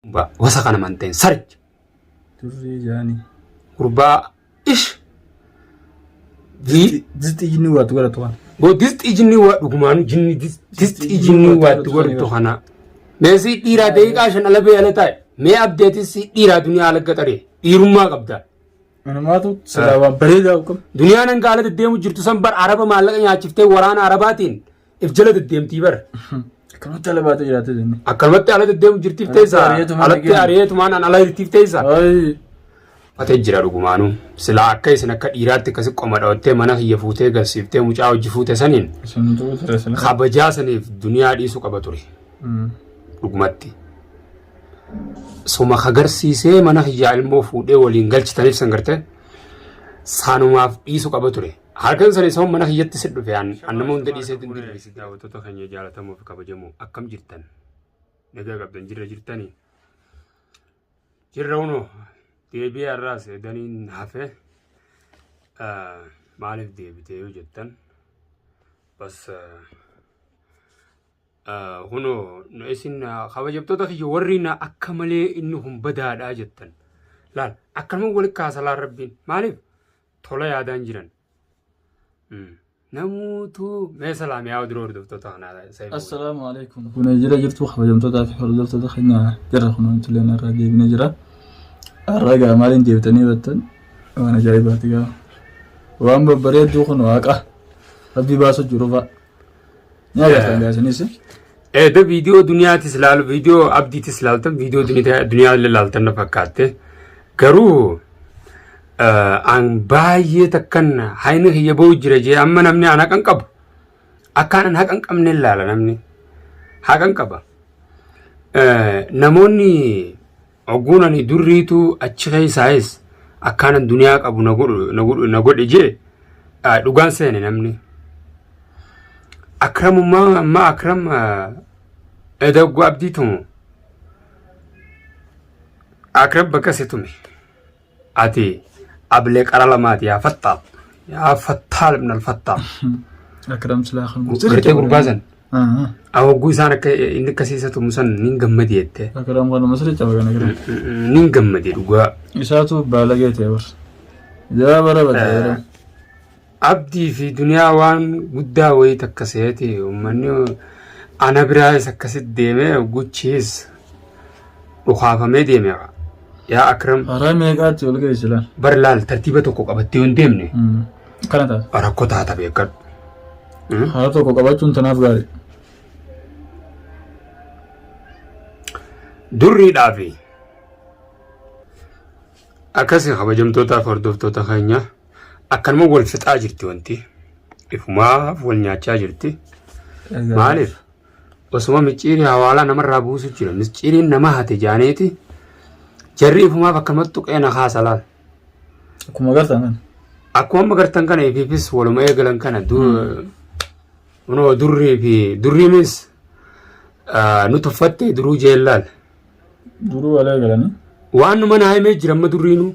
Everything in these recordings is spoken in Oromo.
Ba, wasa kana manteen sarich. Turree jaani. Gurbaa ish. Jii. Disti jinni waatu gara tuwan. Boo disxii jinni waa dhugumaanu jinni dis- disxii jinni waatti godhtu kana. Mee si dhiiraa daqiiqaa shan ala bee ala taa'e. Mee abdeetis si dhiiraa duniyaa ala gaxaree. Dhiirummaa qabda. Manumaatu silaa waan bareedaa qabu. Duniyaan hanga ala deddeemu jirtu san bar araba maallaqa nyaachiftee waraana arabaatiin if jala deddeemtii bara. Akkanumatti ala baatee jiraatee jenne. Akkanumatti ala deddeemu jirtiif Alatti teessa. ari'eetumaan Alatti dhageenye. ari'eetumaan an ala jirtiif teessa. Ayi. Ate jira dhugumaanuu. Silaa akka isin akka dhiiraatti akkasi qoma dhawattee mana kiyya fuutee galsiiftee mucaa hojii fuute saniin Isin tuu ture sila. kabajaa saniif duniyaa dhiisuu qaba ture. Dhugumatti. Suma kagarsiisee mana kiyyaa ilmoo fuudhee waliin galchitaniif san gartee saanumaaf dhiisuu qaba ture. Halkan sana isa mana kiyyatti si dhufe an an nama hunda dhiisee itti dirre. Daawwattoota keenya jaalatamoo fi kabajamoo akkam jirtan? Nagaa qabdan jirra jirtanii? Jirra unoo deebi'ee har'aas daniin hafe maaliif deebitee yoo jettan bas kunoo isin kabajamtoota kiyya warri na akka malee inni kun badaadhaa jettan laal akkanuma walitti kaasalaa rabbiin maaliif tola yaadaan jiran. Namuutu mee salaam yaa oduu hordoftoota kanaa saayiboo. Assalaamu alaikum. Kun jira jirtu kabajamtootaa fi hordoftoota keenya jirra kun wantilee narraa deebinee jira. Har'a gaa maaliin deebitanii battan waan ajaa'ibaati gaa. Waan babbareedduu kun waaqa rabbii baasuu jiru fa'a. Eeda viidiyoo duniyaatis laalu viidiyoo abdiitis laaltan viidiyoo duniyaa illee laaltan na fakkaatte garuu an baay'ee takkan haini kiyya ba'u jira jee amma namni an haqan qabu akkaan an haqan qabne laala namni haqan qaba namoonni Ogguun ani durriitu achi keessaayis akkaanan duniyaa qabu na godhu na godhu na godhe jee ah, dhugaan seene namni. Akramummaa amma akram ah, eda ogguu abdii tumu akram bakka si tume. ati ablee qara lamaati yaa fattaal yaa fattaal ibn alfattaal Akram silaa kan gartee gurbaa san ahogguu isaan akka inni akka siisa tumu san nin gammadi jette Akram kana masri caba kana gara. nin gammadi dhugaa Isaatu baalagee ta'e bar. Jaa bara bara. Abdii fi duniyaa waan guddaa wayii takka seeti ummanni ana biraayis akkasit deeme guchiis dhukaafamee deeme yaa akram Haraa meeqaatti ol ga'e silaan? bar laal tartiiba tokko qabattee yoo hin deemne Kana taate. rakkoo taata beekadhu. Hmm? Haala tokko qabachuun tanaaf gaarii. Durriidhaa fi akkasii kabajamtootaa fi hordoftoota keenya. akkanuma wal fixaa jirti wanti ifumaaf wal nyaachaa jirti maaliif osuma micciirii hawaalaa namarraa buusu jira micciiriin nama hate jaaneeti jarri ifumaaf akkanumatti tuqee na kaasa laal Akkuma agartan kana. akkuma amma gartan kana ifiifis waluma eegalan kana du- kunoo durrii fi durrii means nu tuffatte duruu jeellaan Duruu alee galanii. Waan numa naa himee jira amma durriinu.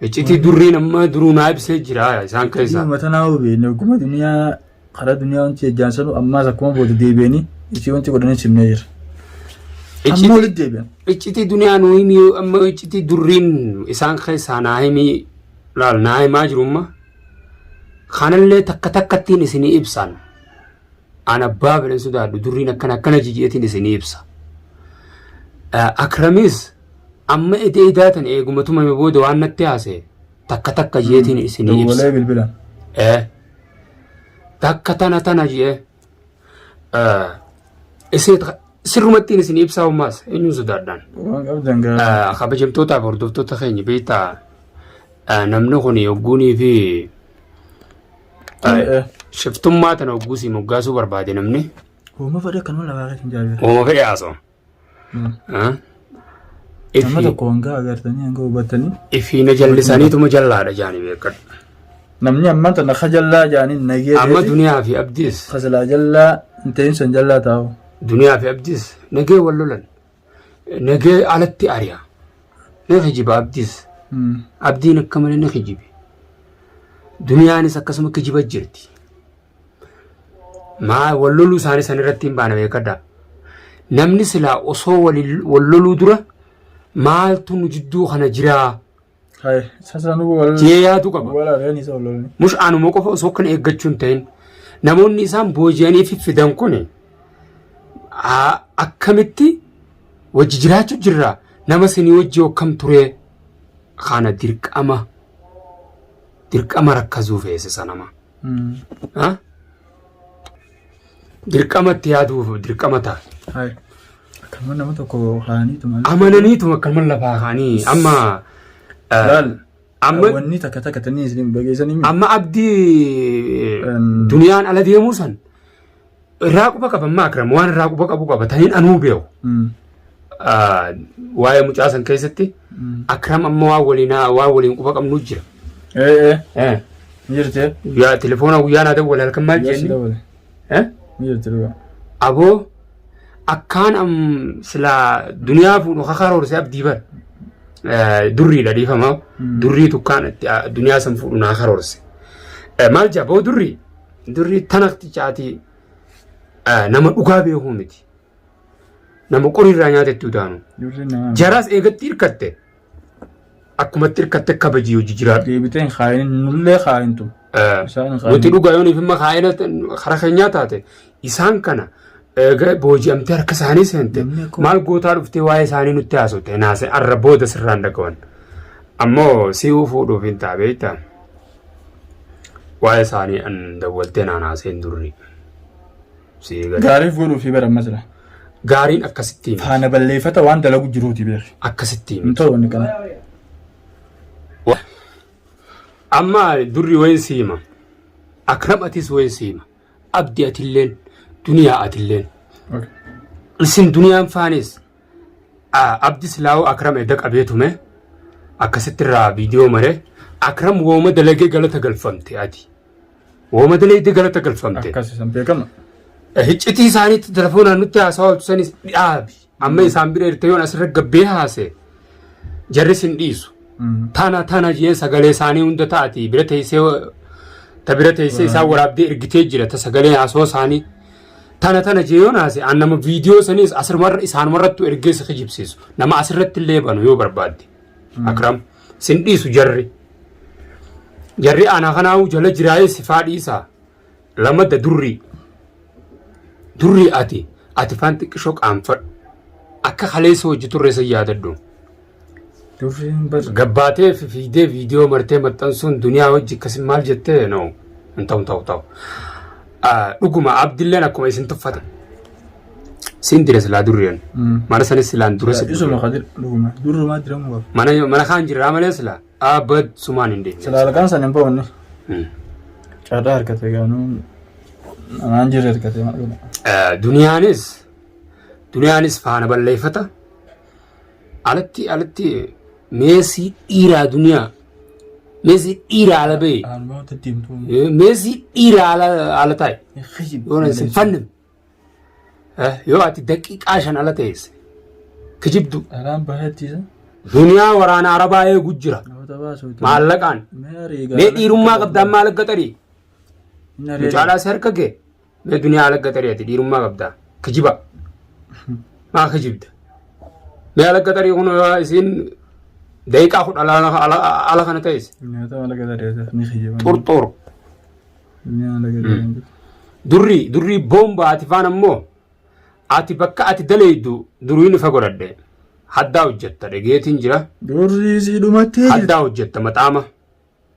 Iccitii durriin amma duruu naa ibsee jira isaan keessaa. Dhuma tanaa hubeenne hogguma duniyaa karaa duniyaa wanti ejjaan sanuu ammaas akkuma booda deebi'anii ishee wanti godhanii simnee jira. Amma walitti deebi'an. Iccitii duniyaa nuu himii amma iccitii durriin isaan keessaa naa himii laal naa himaa jiru amma. Kanallee takka takkattiin isinii ibsaan. an abbaa fedhan sodaadhu durriin akkana akkana jiji'eetiin isinii ibsa. Akramis amma eda edaa tan eeguma tumame booda waan natti haase takka takka jeetiin isinii ibsa. Dawwalee bilbila. Eh. Takka tana tana jee. Eh. Isin sirrumattiin isin ibsaa ummaas eenyuun sodaadhaan. Waan qabdan gaa. Eh, Kabajamtootaaf hordoftoota keenya beektaa eh, namni kun yogguunii fi Aye. Shiftummaa tana hogguu si moggaasuu barbaade namni. Hooma fedhe kan wal agarra kan jaalatu. Hooma fedhe haasoo. Nama Ifi tokko hanga agartanii hanga hubattanii. ifiina jallisaniituma jallaadha jaanii beekadha. Namni ammaan tana ka jallaa jaaniin nagee Amma ta'eeti. duniyaa fi abdiis Ka silaa jallaa hin ta'in san jallaa taa'u. duniyaa fi abdiis nagee wal lolan. Nagee alatti ari'a. Ni kijiba abdiis. Abdiin akka malee ni kijibe. Duniyaanis akkasuma kijiba jirti. Maa wal loluu isaanii san irratti hin baana beekadha. Namni silaa osoo wal loluu dura maaltu nu jidduu kana jiraa? Hai, sasa nu wal Tiyee yaatu qaba. wal areen isa ololni. Mush anuma qofa osoo kan eeggachuu hin ta'in namoonni isaan booji'anii fi fidan kun akkamitti wajji jiraachuu jirra nama sinii wajji akkam turee kana dirqama dirqama rakkasuu feesisa nama. Ha? Dirqama itti yaaduuf dirqama ta'a. Hai. Akkuma nama tokko kaanii tuman. Amananiitu akka mana lafaa kaanii amma eh, Laal. amma Wanni takka takka tanii isin bageessanii. amma abdii eh, Em. duniyaan ala deemuu san Irraa quba qaba amma akram waan irraa quba qabu qaba taniin anuu beeku. Mm. Ah, Waa'ee mucaa san keessatti Mm. akram amma waan waliin waan waliin quba qabnu jira. Ee ee Eh, ni jirtee? Guyyaa telefoona guyyaa naa dawwala halkan maal Guyyaa si jenni? dawwale. Eh? Ni jirti dhugaa. Aboo akkaan am sila duniyaa fuudhu kakaaroorse abdii bar. Eh, Durriidha dhiifama. Mm. Durrii tukkaan itti ah, duniyaa san fuudhu naa karoorse. Eh, Maal jaa boo durrii? Durri tanaktichaati nama dhugaa beekuu miti. Nama qoriirraa nyaatettuu taanu. Durri nama. Jaraas eegatti hirkatte. Akkumatti hirkatte kabajii hojii jiraadhu. Deebitee hin kaayin nullee kaayintu. Isaan hin Nuti dhugaa yoo nuuf immoo kaa'ina karaa keenyaa taate isaan kana eega booji'amtee harka isaanii seente Namni akkuma- maal gootaa dhuftee waa'ee isaanii nutti haasofte naase arra booda sirraan dhagawan. Ammoo si'uu fuudhuuf hin taabeetta. Waa'ee isaanii an dawwaltee naan haaseen durri. Sii gadi. Gaariif godhuu fi baramma jira. Gaariin akkasitti himi. Faana balleeffata waan dalagu jiruuti beeki. Akkasitti himi. Hin ta'u wanni kana. Wa- Amma durri wayin si hima. Akram atis wayin si hima. Abdi atilleen duniyaa atilleen. Okay. Isin duniyaan faanis Abdi silaa'oo Akram edda qabee tume akkasitti irraa viidiyoo maree Akram wooma dalagee galata galfamte ati. Wooma dalagee galata galfamte. Akkas isan beekama. Hiccitii isaaniitti telefoonaan nutti haasawaa hojjesanis dhaabi. Amma isaan bira irtee yoon asirra gabbee haase jarris hin dhiisu. Taana taana jeen sagalee isaanii hunda taati bira teessee ta bira teessee isaan waraabdee ergitee jira ta sagalee haasawaa isaanii. Tana tana jee yoo naase an nama viidiyoo saniis asirmarra isaanumarrattu ergee si kijibsiisu. Nama asirratti illee banu yoo barbaadde. Akram sin dhiisu jarri. Jarri ana kanaa'uu jala jiraayee sifaa dhiisaa. Lamadda durrii. Durrii ati ati faan xiqqishoo qaanfadhu. Akka kaleessa hojii turre san yaadadhu. Durriin bar gabbaatee fi fiigdee viidiyoo martee maxxansuun duniyaa hojji akkasii maal jettee no hin ta'u ta'u ta'u. Ah, Dhuguma abdilleen akkuma isin tuffate. Siin dire silaa durriyan. Mana sanis silaan dura si isuma kadir dhuguma durrumaa diramu qaba. Mana mana kaan jirraa malee silaa abad sumaan hin deemne. Sila halkan san hin boonne. Hmm. Carraa argate gaanuu namaan jirre argate maal godha. Eh, Duniyaanis duniyaanis faana balleeffata. Alatti alatti meesii dhiiraa duniyaa meesii dhiiraa ala ba'e Haaluma itti deemtu. Eh, meesii dhiiraa ala ala taa'e yoo na isin fannin Eh, yoo ati daqiiqaa shan ala ta'eesse kijibdu Dhalaan bahachiisa. duniyaa waraana arabaa eegu jira Namoota baasuutu. maallaqaan Mee ariigaa. mee dhiirummaa qabdaan maal gaxarii Inni ariigaa. mucaadhaas harka kee Mee duniyaa alagga tarii ati dhiirummaa qabdaa. Kijiba. Maa kijibda. Mee alagga tarii kun waa isiin daqiiqaa kudha ala ala- ala kana ta'es. Nyaata maal akka tadeessuuf ni kijiba. Xurxur. Nyaata maal akka tadeessuuf. Durri durri boomba ati faan ammoo ati bakka ati daleeydu duriin ifa godhadhe. Haddaa hojjetta dhageetiin jira. Durri siidhumattee jirti. Haddaa hojjetta maxaama.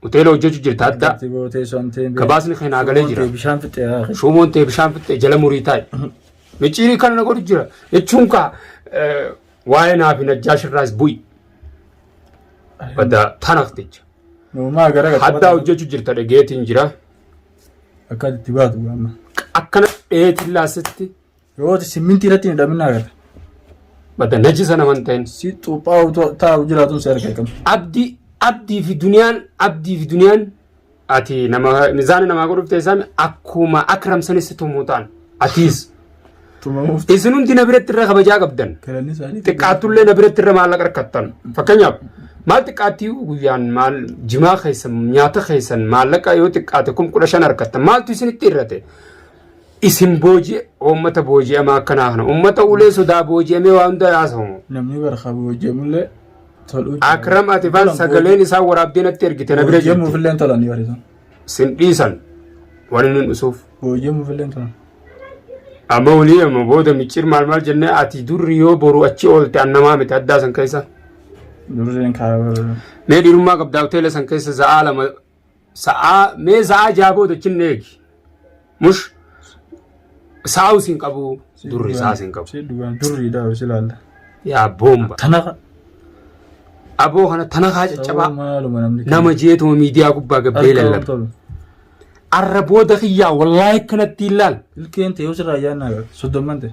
hoteela hojjechu jirta adda Ati boo teessoo amtee hin beeku. gabaasni kee naa galee jira Tee Bishaan fixee haa kennu. shuumoon tee bishaan fixxee jala murii taa'i micciirii kana na godhu jira jechuun kaa eh, waa'ee naa fi najjaash irraas bu'i badda tanaq jecha Uumaa gara gatii haddaa hojjechu jirta dhageetiin jira Akka itti baatu amma. akkana dheetiin laasitti Yoo simmintii irratti hin hidhamin agarra. Badda najisa nama hin ta'in. Si xuuphaa'u taa'u jiraatun si arga qabdi. Abdi abdii fi duniyaan abdii fi duniyaan ati nama mizaana namaa godhuuf ta'e isaami akkuma akram sanis tumuu ta'an atiis Tumamuuf isin hundi na biratti irra kabajaa qabdan galanni isaanii. xiqqaattullee na biratti irra maallaqa rakkattan fakkeenyaaf maal xiqqaattii guyyaan maal jimaa keessan nyaata keessan maallaqa yoo xiqqaate kum kudha shan harkattan maaltu isinitti irrate isin booji'e uummata booji'amaa akkanaa kana uummata ulee sodaa booji'amee waa hunda haasawamu. Namni barka booji'amullee toluu jira. Akram ati faan Tolan sagaleen isaa waraabdee natti ergite na bira jirti. Booji'amuufillee tolan yoo dhiisan. Sin dhiisan waan inni dhusuuf. Booji'amuufillee tolan. Amma olii amma booda micciir maal maal jennee ati durri yoo boru achi oolte annamaa miti addaa san keessa. Durreen kaabara. Mee dhiirummaa qabdaa hoteela san keessa za'aa lama sa'aa mee sa'aa jaha booda chin eegi mush saa'u sin qabu durri sa'a sin qabu Si dhugaan durriidha si laalla. yaa boomba Tanafa. aboo kana tanakaa caccabaa Maaluma namni. nama jeetuma miidiyaa gubbaa gabbee lallaba tolu. arra booda kiyyaa wallaahi akkanatti hin laal Ilkeen ta'e osirraa ayyaannaa gaafate. Soddomman ta'e.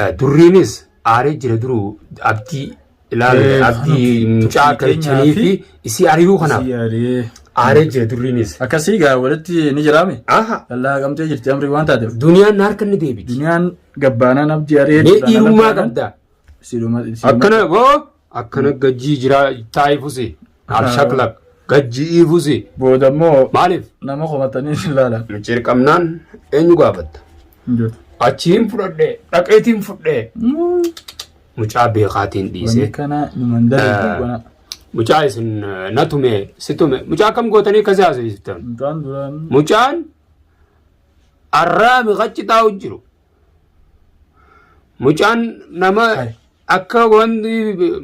Eh, Durriinis aaree jira duruu abdii ilaale Eh, abdii kanaaf mucaa akka tuffii jechanii keenyaa fi fi isii ari'uu kanaaf Isii aree. aaree jira durriinis. Akkasii gaa walitti ni jiraame. Aha Lallaa qabamtee jirti amri waan taateef. duniyaan na harka ni deebiti. Duniyaan gabbaanaan abdii aree. Mee dhiirummaa qabda. Akkana boo. akkana gajjii jiraa taa'ee fusi alshaklak gajji'ii fusi Booda immoo maaliif nama komatanii si ilaalan. cirqamnaan eenyu gaafatta Injota. achiin fudhadhee dhaqeetiin fudhee mucaa beekaatiin Wanni dhiisee kana nu mandara Eh. hin qona. mucaa isin eh, na tume si tume mucaa akkam gootanii akkasii haasofsiiftan Mucaan duraan mucaan arraami qachi taa'u jiru Mucaan nama akka wanti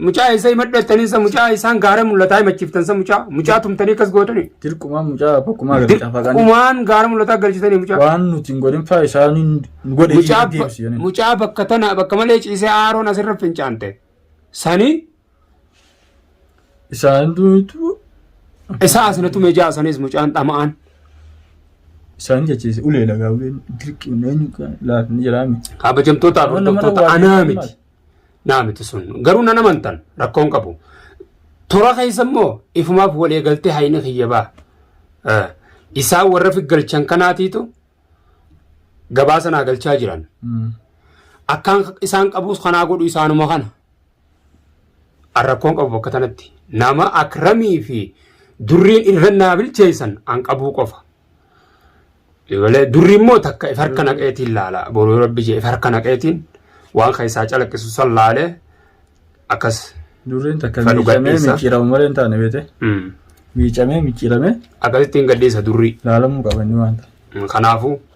mucaa isa himadhattanii isa mucaa isaan gaara mul'ataa himachiiftan isa mucaa mucaa tumtanii akkas gootanii. Dirqumaan mucaa bakkumaa galchaa faqaan Dirqumaan gaara mul'ataa galchitanii mucaa. waan nuti hin godhin faa isaan hin godhe Mucaa deebisi jedhanii. mucaa bakka tana bakka malee ciisee aaroon asirra fincaante. Sani Isaan duutu Isaa asina tume jaa sanis mucaan dhama'aan. isaan jechiise ulee lagaa uleen dirqiin eenyu laafni jiraa miti. Kabajamtoota Nama nama hordoftoota waa anaa beekamaa. miti. Naa miti sun. Garuu nan amantan rakkoon qabu. Tora keessa immoo ifumaaf walii galtee haini kiyya baa. Eh, Isaan warra figgalchan kanaatiitu gabaa sanaa galchaa jiran. Akkaan isaan qabus kanaa godhu isaanuma kana. an rakkoon qabu bakka tanatti nama akramii fi durriin irra naa bilcheessan an qabuu qofa Ibalee durri immoo takka if harka naqeetiin laala. Boruu rabbi jee if harka naqeetiin waan keessaa calaqqisu san laalee akkas. Durriin takka Fadhu miicamee gadhiisa. micciiramu malee hin taane beete. Mm. Miicamee micciiramee Akkasittiin gadhiisa durri. laalamuu qaba inni waan ta'e. Kanaafuu